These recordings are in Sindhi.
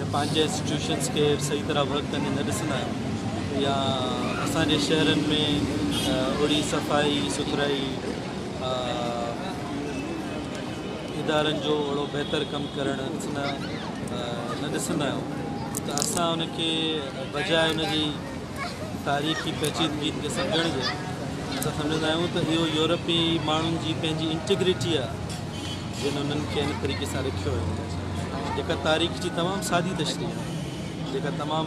يا پنهنجي انسٽيٽيوشنز کي صحيح طرح ورڪ ڪندي نه ڏسندا آهيون يا اسان جي شهرن ۾ اهڙي صفائي سٿرائي ادارن جو اهڙو بهتر ڪم ڪرڻ ڏسندا نه ڏسندا آهيون ته اسان ان کي بجاء ان جي تاريخي پيچيدگين کي سمجهڻ جي اسان سمجهندا آهيون ته اهو يورپي ماڻهن جي پنهنجي انٽيگريٽي آهي جن انهن کي ان طريقي سان رکيو هيو جيڪا تاريخ جي تمام سادي تشريح آهي جيڪا تمام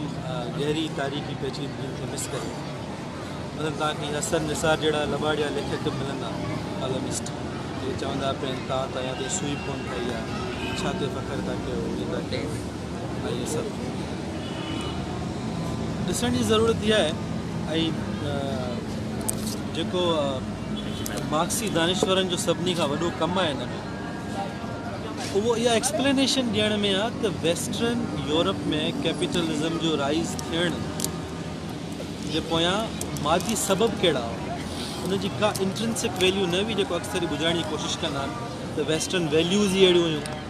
گهري تاريخي پيچيدگين کي مس ڪري مثلا توهان کي حسن نثار جهڙا لباڙيا ليکڪ ملندا ڪالمسٽ جيڪي چوندا پين توهان ته يا تي سوئي ڪون ٿي يا ڇا تي فخر ٿا ڪيو ائين ٿا ڪيو ائين سڀ ڏسڻ جي ضرورت اها آهي ۽ جيڪو مارڪسي دانشورن جو سڀني کان وڏو ڪم آهي ان ۾ اهو اها ايڪسپلينيشن ڏيڻ ۾ آهي ته ويسٽرن يورپ ۾ ڪيپيٽلزم جو رائيز ٿيڻ جي پويان مادي سبب ڪهڙا هئا ان جي ڪا انٽرنسڪ ويليو نه هئي جيڪو اڪثر هي ٻڌائڻ جي ڪوشش ڪندا آهن ته ويسٽرن ويليوز ئي اهڙيون هيون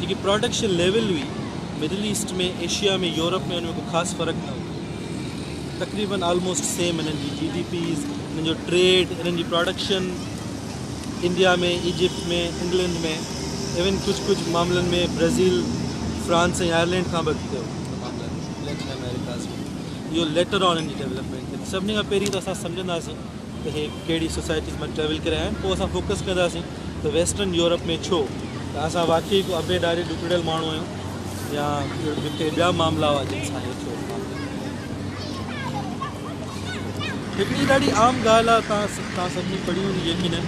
جيڪي پراڊڪشن ليول هئي، مڊل ايسٽ ۾ ايشيا ۾ يورپ ۾ ان ۾ ڪو خاص فرق نه هو. تقريبن آلموسٽ سيم انهن جي جي ڊي پيز، انهن جو ٽريڊ، انهن جي production India ۾ Egypt ۾ England ۾ even ڪجهه ڪجهه معاملن ۾ برازيل، فرانس ۽ آئرلينڊ کان به اڳتي هو. ان معاملن ليٽن آمريڪاز ۾ اهو ليٽر آن ان جي ڊيولپمينٽ ٿي. سڀني کان پهرين ته اسان سمجهنداسين ته هي ڪهڙي سوسائٽيز مان ٽريول ڪري آيا آهن پوء اسان فوڪس ڪنداسين. ته ويسٽرن يورپ ۾ ڇو ته اسان واقعي ڪو ابي ڏاڙهي ڏکڙيل ماڻهو آهيون يا ڪي ٻيا معاملا هئا جن سان هيء ڇو معاملو هڪ ٻي ڏاڍي عام ڳالهه آهي تان تان سڀني پڙهي هوندي يقينا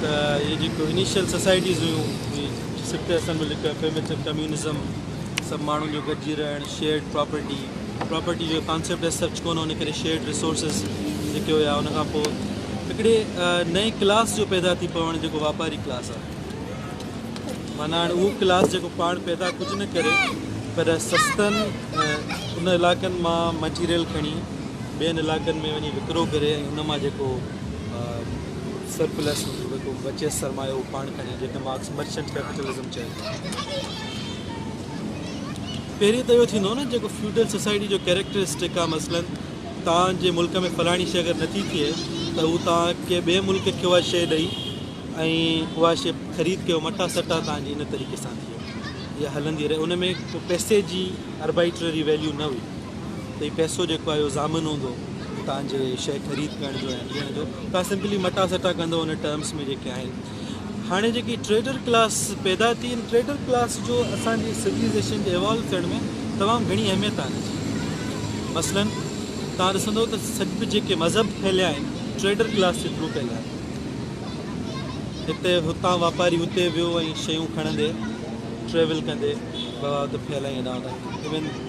ته هي جيڪو انيشل سوسائٽيز هيون جي سڪت اصل ۾ لکيو ايفيميٽو ڪميونزم سڀ ماڻهن جو گڏجي رهڻ، شيئرڊ پراپرٽي، پراپرٽي جو ڪانسيپٽ ايز سچ ڪونه ان ڪري شيئرڊ ريسورسز جيڪي هيا ان کان پوء هڪڙي نئين ڪلاس جو پيدا ٿي پوڻ جيڪو واپاري ڪلاس آهي معنيٰ هاڻي اهو ڪلاس جيڪو پاڻ پيدا ڪجهه نه ڪري پر سستن ان علائقن مان مٽيريل کڻي ٻين علائقن ۾ وڃي وڪرو ڪري ۽ ان مان جيڪو سرپلس جيڪو بچيس سرمايو پاڻ کڻي جيڪي مارڪس مرچنٽ ڪيپيٽلزم چئي پهرين ته اهو ٿيندو نه جيڪو فيوڊل سوسائٽي جو ڪيريڪٽرسٽڪ آ مثلا توهان جي ملڪ ۾ فلاڻي شي اگر نٿي ٿئي ته هو توهان کي ٻئي ملڪ کي اها شي ڏئي ۽ اها شي خريد ڪيو مٽا سٽا توهان جي ان طريقي سان ٿئي اها هلندي رهي ان ۾ ڪو پئسي جي اربائٽرري ويليو نه هئي ته هي پئسو جيڪو آهي اهو ضامن هوندو توهان جي شي خريد ڪرڻ جو ۽ ڏيڻ جو توهان سمپلي مٽا سٽا ڪندو ان ٽرمس ۾ جيڪي آهن هاڻي جيڪي ٽريڊر ڪلاس پيدا ٿي ان ٽريڊر ڪلاس جو اسان جي سوليزيشن کي ايوالو ڪرڻ ۾ تمام گهڻي اهميت آهي جي مثلا تان ڏسندو ته سڄ جيڪي مذهب ڦهليا آهن ٽريڊر ڪلاس جي ٿرو ڦهليا آهن هتي هتان واپاري هتي ويو ۽ شيون کڻندي ٽريول ڪندي بغاوت ڦهلائي هيڏانهن هوڏانهن ايون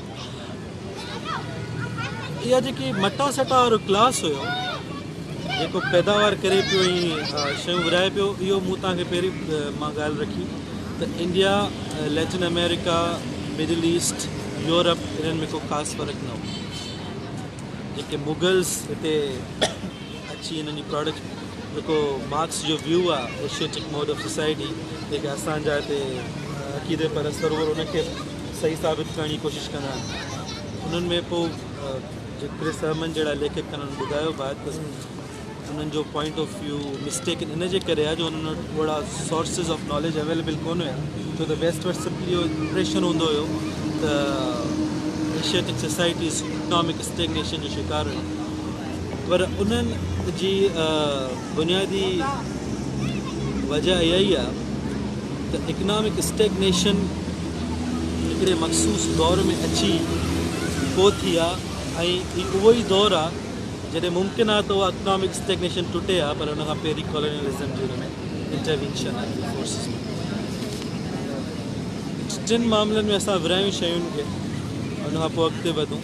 اها جيڪي مٽا سٽا وارو گلاس هيو جيڪو پيداوار ڪري پيو ۽ شيون ورهائي پيو اهو مون تان کي پهرين مان ڳالهه رکي ته India Latin America middle east Europe انهن ۾ ڪو خاص فرق نه هو جيڪي مغلس هتي اچي انهن جي پراڊڪٽ جيڪو مارڪس جو ويو آ ايشيٽڪ موڊ آف سوسائٽي جيڪي اسان جا هتي عقيدي پر اثر هو ان کي صحيح ثابت ڪرڻ جي ڪوشش ڪندا آهن انهن ۾ پو جو ڪرس احمد جهڙا ليکڪ ڪن انهن ٻڌايو به ته انهن جو پوائنٽ آف ويو مسٽيڪ ان جي ڪري آ جو انهن وٽ اهڙا سورسز آف ناليج اويليبل ڪون هيا ڇو ته ويسٽ وٽ سمپلي اهو امپريشن هوندو هيو ته ايشيٽڪ سوسائٽيز اڪنامڪ اسٽيگنيشن جو شڪار هيون پر انهن جي بنيادي وجه اها ئي آهي ته اڪنامڪ اسٽيگنيشن هڪڙي مخصوص دور ۾ اچي پهتي آهي ۽ هي اهو ئي دور آهي جڏهن ممڪن آهي ته اها اڪنامڪ اسٽيگنيشن ٽٽي ها پر ان کان پهرين ڪالونيلزم جي ان ۾ انٽروينشن آهي ۽ فورسز ۾ ٽن معاملن ۾ اسان ورهايون شين کي ان کان پوء اڳتي وڌون.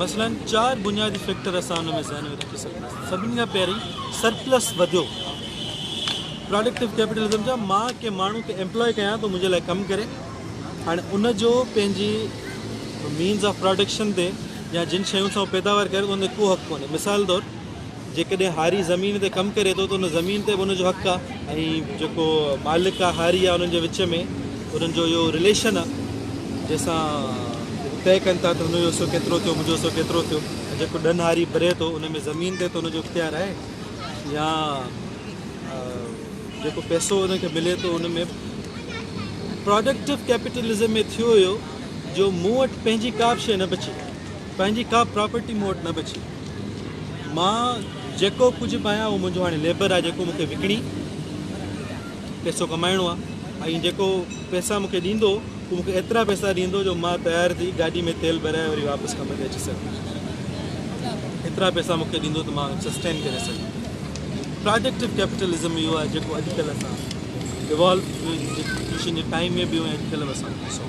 مثلاً چار بنيادي فيڪٽر اسان ان ۾ ذهن ۾ رکي سگهنداسين سڀني کان پهرين سرپلس وڌيو پراڊڪٽو ڪيپيٽلزم جا مان ڪنهن ماڻهو کي ايمپلاء ڪيان ٿو منهنجي لاء ڪم ڪري هاڻي ان جو پنهنجي مينز آف پراڊڪشن تي يا جن شيون سان پيداوار ڪري ٿو ان تي ڪو حق ڪونهي مثال طور جيڪڏهن هاري زمين تي ڪم ڪري ٿو ته ان زمين تي به ان جو حق آ ۽ جيڪو مالڪ آ هاري آ انهن جي وچ ۾ انهن جو اهو رليشن آ جنهن سان هو طئي ڪن ٿا ته هن جو حصو ڪيترو ٿيو منهنجو حصو ڪيترو ٿيو ۽ جيڪو ڏن هاري ڀري ٿو ان ۾ زمين تي ته ان جو اختيار آهي يا جيڪو پئسو ان کي ملي ٿو ان ۾ پراڊڪٽو ڪيپيٽلزم ۾ ٿيو اهو جو مون وٽ پنهنجي ڪا به شيء نه بچي پنهنجي ڪا پراپرٽي مون وٽ نه بچي. مان جيڪو ڪجهه به آهيان اهو منهنجو هاڻي ليبر آهي جيڪو مون کي وڪڻي پيسو ڪمائڻو آهي ۽ جيڪو پيسا مون کي ڏيندو اهو مون کي ايترا پيسا ڏيندو جو مان تيار ٿي گاڏي ۾ تيل ڀرائي وري واپس ڪم تي اچي سگهان. ايترا پيسا مون کي ڏيندو ته مان سسٽين ڪري سگهان. پراڊڪٽو ڪيپيٽلزم اهو آهي جيڪو اڄڪلهه اسان ايوالو ٿي ويو انٽرنيشن جي ٽائيم ۾ به اهو اڄڪلهه به اسان ڏسون.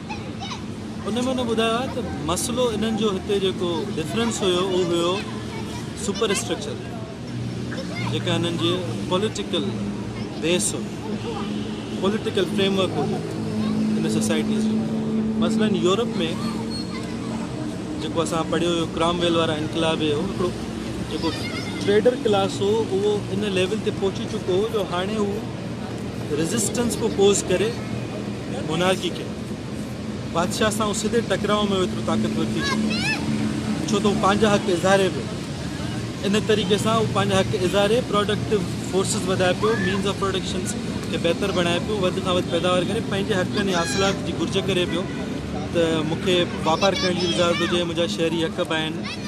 ان ۾ انهن ٻڌايو آهي ته مسئلو انهن جو هتي جيڪو ڊفرنس هيو اهو هيو سپر اسٽرڪچر جيڪا انهن جي پوليٽيڪل بيس هو پوليٽيڪل فريم ورڪ هو جيڪو ان سوسائٽيز جو مثلا يورپ ۾ جيڪو اسان پڙهيو هيو ڪرام ويل وارا انقلاب هيو هڪڙو جيڪو ٽريڊر ڪلاس هو اهو ان ليول تي پهچي چڪو هو جو هاڻي هو ريزسٽنس ڪو پوز ڪري مونارڪي کي بادشاهه سان هو سڌي ٽڪراء ۾ ايترو طاقتور ٿي چڪو ڇو ته هو پنهنجا حق اظهاري پيو ان طريقي سان هو پنهنجا حق اظهاري پروڊڪٽو فورسز وڌائي پيو مينز آف پروڊڪشنس کي بهتر بڻائي پيو وڌ کان وڌ پيداوار ڪري پنهنجي حقن ۽ حاصلات جي گهرج ڪري پيو ته مونکي واپار ڪرڻ جي اجازت هجي منهنجا شهري حق به آهن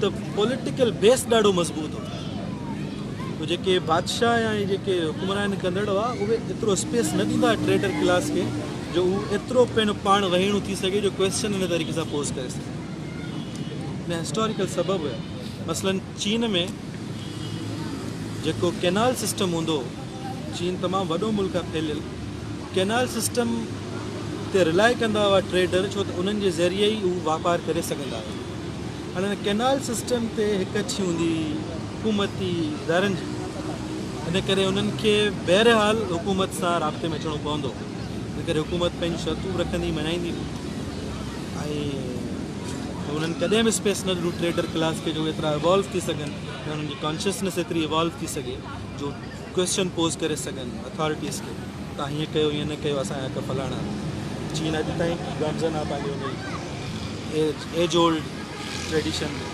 ته پوليٽيڪل بيس ڏاڍو مضبوط هو ته جيڪي بادشاهه يا جيڪي حڪمران ڪندڙ هئا اهي ايترو اسپيس نه ڏيندا ٽريڊر ڪلاس کي جو هو ايترو پڻ پاڻ وهيڻو ٿي سگهي جو ڪويسچن ان طريقي سان پوز ڪري سگهي ان هسٽوريڪل سبب هيا مثلا چين ۾ جيڪو ڪينال سسٽم هوندو چين تمام وڏو ملڪ آهي ڦيليل ڪينال سسٽم تي رلاء ڪندا هئا ٽريڊر ڇو ته انهن جي ذريعي ئي هو واپار ڪري سگهندا هئا هن ڪئنال سسٽم تي هڪ اڇي هوندي هئي حڪومتي ادارن جي ان ڪري انهن کي بهرحال حڪومت سان رابطي ۾ اچڻو پوندو هو ان ڪري حڪومت پنهنجون شرطون به رکندي مڃائيندي به هئي ۽ انهن ڪڏهن به اسپيس نه ڏنو ٽريڊر ڪلاس کي جو ايترا ايوالو ٿي سگهن يا انهن جي ڪانشسنيس ايتري ايوالو ٿي سگهي جو ڪوئسچن پوز ڪري سگهن اٿارٽيز کي تهان هيئن ڪيو هيئن نه ڪيو اسان جا ته فلاڻا چين اڄ تائين به گامزن آهي پنهنجي انهي ايج ايج اولڊ ٽريڊيشن تي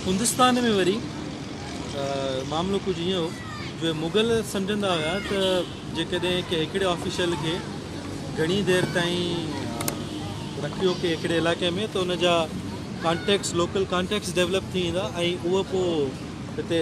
هندستان ۾ وري معاملو ڪجهه هيئن هو جو مغل سمجهندا هيا ته جيڪڏهن ڪنهن هڪڙي آفيشل کي گهڻي دير تائين رکيو ڪنهن هڪڙي علائقي ۾ ته ان جا ڪانٽيڪٽس لوڪل ڪانٽيڪٽس ڊيولپ ٿي ويندا ۽ اهو پوء هتي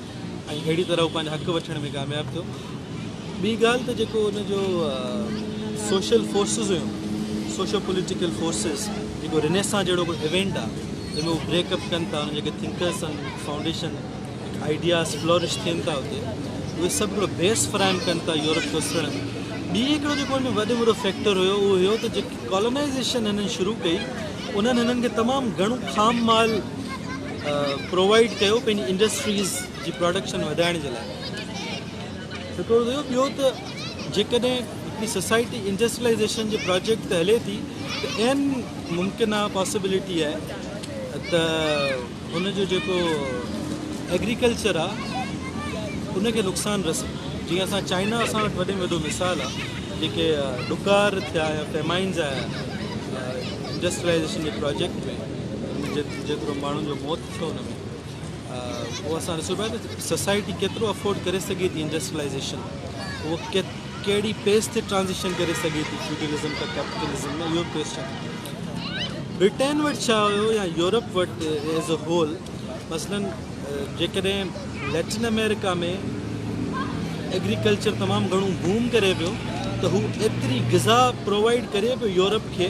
۽ اهڙي طرح هو پنهنجا حق وٺڻ ۾ ڪامياب ٿيو. ٻي ڳالهه ته جيڪو ان جو سوشل فورسز هيون، سوشو پوليٽيڪل فورسز، جيڪو رنيسان جهڙو ڪو ايونٽ آ، جنهن ۾ هو بريڪ اپ ڪن ٿا، انهن جا جيڪي ٿنڪرز ان فائونڊيشن هڪ آئيڊياز فلورش ٿين ٿا اتي، اهي سڀ هڪڙو بيس فراهم ڪن ٿا يورپ کي اسرڻ ۾. ٻي هڪڙو جيڪو ان ۾ وڏ وڏو فيڪٽر هيو، اهو هيو ته جيڪي ڪالونائيزيشن هنن شروع ڪئي، انهن هنن کي تمام گهڻو خام مال، پرووائيڊ ڪيو پنهنجي انڊسٽريز جي پروڊڪشن وڌائڻ جي لاء هڪڙو ٿيو ٻيو ته جيڪڏهن هڪڙي سوسائٽي انڊسٽريلائزيشن جي پروجيڪٽ تي هلي ٿي ته اين ممڪن آهي پاسبلٽي آهي ته ان جو جيڪو ايگريڪلچر آهي ان کي نقصان رسي جيئن اسان چائنا اسان وٽ وڏي وڏو مثال آهي جيڪي ڏڪار ٿيا يا فيمائنز آيا انڊسٽريلائزيشن جي پروجيڪٽ ۾ جيترو ماڻهن جو موت ٿيو ان ۾ پوء اسان ڏسون پيا ته سوسائٽي ڪيترو افورڊ ڪري سگهي ٿي انڊسٽريلائيزيشن اهو ڪهڙي پيس تي ٽرانزيشن ڪري سگهي ٿي فيوڊلزم کان ڪيپيٽلزم ۾ اهو ڪويشچن برٽين وٽ ڇا هيو يا يورپ وٽ ايز اي هول مثلا جيڪڏهن ليٽن امريڪا ۾ ايگريڪلچر تمام گهڻو بوم ڪري پيو ته هو ايتري غذا پرووائيڊ ڪري پيو يورپ کي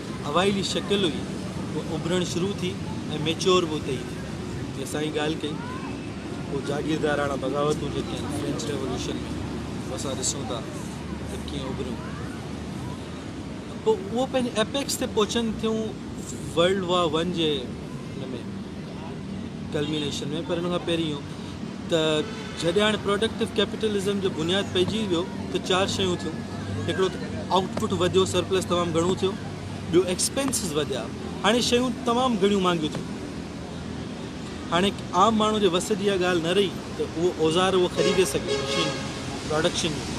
اوائلي شڪل هئي اها اڀرڻ شروع ٿي ۽ ميچيور به اتي ئي ٿي ٿي اسان ڳالهه ڪئي اهو جاگيرداراڻا بغاوتون جيڪي آهن فرينچ ريولوشن ۾ اهو اسان ڏسون ٿا ته ڪيئن اڀريون ته پوء اهو پنهنجي ايپيڪس تي پهچن ٿيون ورلڊ وار ون جي ان ۾ ڪلمينيشن ۾ پر ان کان پهرين اهو ته جڏهن هاڻي پراڊڪٽو ڪيپيٽلزم جو بنياد پئجي ويو ته چار شيون ٿيون هڪڙو ته آئوٽ پٽ وڌيو سرپلس تمام گهڻو ٿيو ٻيو ايڪسپينسز وڌيا هاڻي شيون تمام گهڻيون مهانگيون ٿيون هاڻي عام ماڻهو جي وس جي اها ڳالهه نه رهي ته اهو اوزار اهو خريدي سگهي مشينون پراڊڪشن جون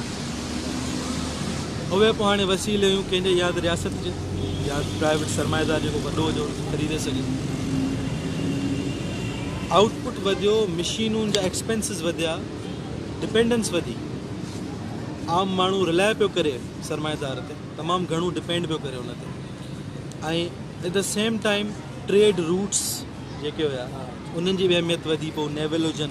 اهي به هاڻي وسيليون ڪنهن جي يا ته رياست جي يا پرائيويٽ سرمائيدار جيڪو وڏو هجي ان کي خريدي سگهي ٿو آئوٽ پٽ وڌيو مشينون جا ايڪسپينسز وڌيا ڊپينڊنس وڌي عام ماڻهو رلاء پيو ڪري سرمائيدار تي تمام گهڻو ڊپينڊ پيو ڪري ان تي ۽ at the same time trade routes جيڪي هيا انهن جي به اهميت وڌي پيو نيول هجن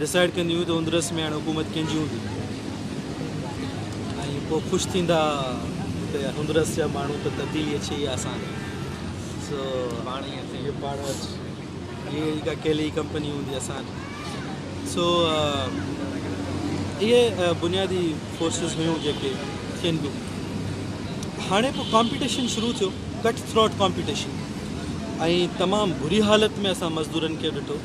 ڊسائيڊ ڪنديون ته اندرس ۾ هاڻي حڪومت ڪنهن جي هوندي ۽ پوء خوش ٿيندا ته اندرس جا ماڻهو ته تبديلي اچي ئي آسان سو هاڻي ائين ٿئي پاڻ هي هڪ اڪيلي ئي ڪمپني هوندي آسان سو اهي بنيادي فورسز هيون جيڪي ٿين پيون هاڻي پوء ڪامپيٽيشن شروع ٿيو ڪٽ ٿروٽ ڪامپيٽيشن ۽ تمام بري حالت ۾ اسان مزدورن کي ڏٺو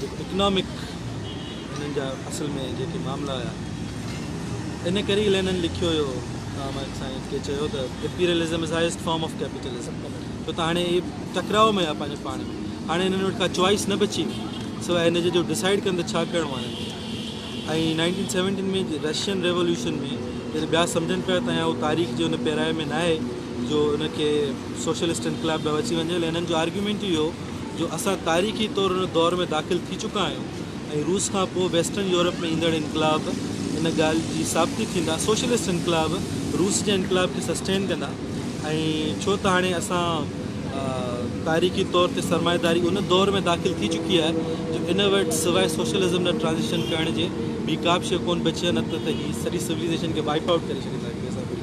جيڪي اڪنامڪ هنن جا اصل ۾ جيڪي معاملا هيا ان ڪري ئي لينن لکيو هيو تان مائڪ سائنس کي چيو ته imperialism is highest form of capitalism ڇو ته هاڻي هي ٽڪراء ۾ آهي پنهنجو پاڻ ۾ هاڻي هنن وٽ ڪا چوائس نه بچي سواء هن جي جو ڊسائڊ ڪن ته ڇا ڪرڻو آهي هنن کي ۽ نائنٽين سيونٽين ۾ رشين ريولوشن ۾ جڏهن ٻيا سمجھن پيا ته اهو تاريخ جي ان پيرائي ۾ ناهي جو ان کي سوشلسٽ انقلاب ڏانهن وٺي وڃي لينن جو آرگيومينٽ ئي هو جو اسان تاريخي طور ان دور ۾ داخل ٿي چڪا آهيون ۽ روس کان پوء ويسٽرن يورپ ۾ ايندڙ انقلاب ان ڳالهه جي ثابتي ٿيندا سوشلسٽ انقلاب روس جي انقلاب کي سسٽين ڪندا ۽ ڇو ته هاڻي اسان تاريخي طور تي سرمائيداري ان دور ۾ داخل ٿي چڪي آهي جو ان وٽ سواء سوشلزم نه ٽرانزيشن ڪرڻ جي ٻي ڪابه شيء ڪونه بچي آهي نه ته ته هي سڄي سوليزيشن کي وائيپ آئوٽ ڪري ڇڏيندا هڪڙي سان ٻڙي.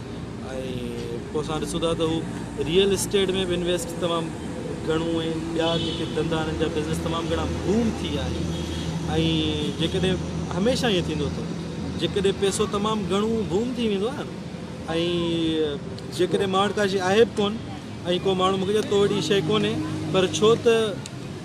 ۽ پوء اسان ڏسون ٿا ته هو ريئل اسٽيٽ ۾ به انويسٽ تمام گهڻو ۽ ٻيا جيڪي ڌندا انهن جا بزنس تمام گهڻا بوم ٿي ويا آهن ۽ جيڪڏهن هميشه ائين ٿيندو ته جيڪڏهن پيسو تمام گهڻو بوم ٿي ويندو آهي نه ۽ جيڪڏهن ماڻ ڪاشي آهي به ڪون ۽ ڪو ماڻهو مونکي چئي تو وٽ هي شيء ڪونهي پر ڇو ته